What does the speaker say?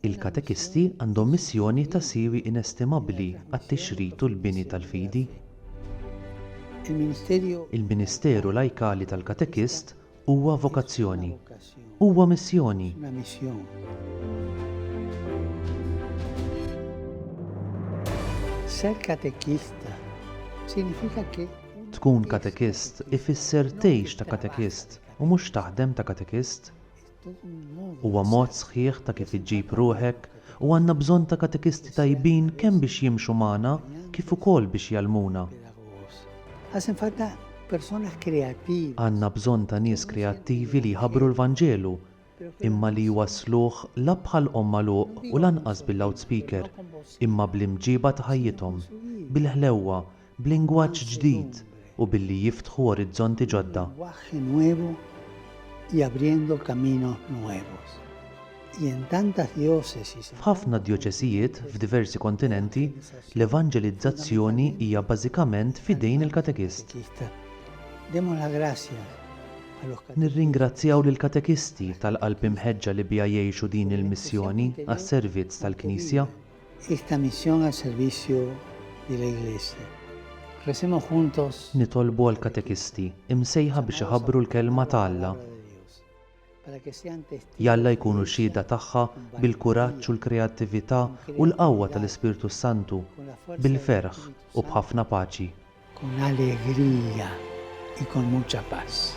Il-katekisti għandhom missjoni ta' siwi inestimabbli għat-tixrid u l-bini tal-fidi. Il-ministeru lajkali tal-katekist huwa vokazzjoni, huwa missjoni. Ser katekista sinifika ke tkun katekist ifisser tgħix ta' katekist u mhux taħdem ta' katekist. Huwa mod sħiħ ta' kif iġġib ruħek u għandna bżonn ta' katekisti tajbin kemm biex jimxu magħna kif ukoll biex jgħallmuna. Għandna bżonn ta' nies kreattivi li jħabbru l-Vanġelu, imma li jwassluh la bħal omm magħluq u lanqas bil-loudspeaker, imma bl-imġieba ta' ħajjithom, bil-ħlewwa, b'lingwaġġ ġdid u billi jiftħu orizzonti ġodda. F'ħafna djoċesijiet f'diversi kontinenti, l-evanġelizzazzjoni hija bażikament f'idejn il-katekist. Nirringrazzjaw lill-katekisti tal-qalb imħeġġa li biha jgħixu din il-missjoni għas-servizz tal-Knisja. Nitolbu għall-katekisti, imsejħa biex iħabbru l-Kelma ta' Alla. Jalla jkunu xhieda tagħha bil-kuraġġ u l-kreattività u l-qawwa tal-Ispirtu s-Santu, bil-ferħ u b'ħafna paċi. Con alegría y con mucha paz.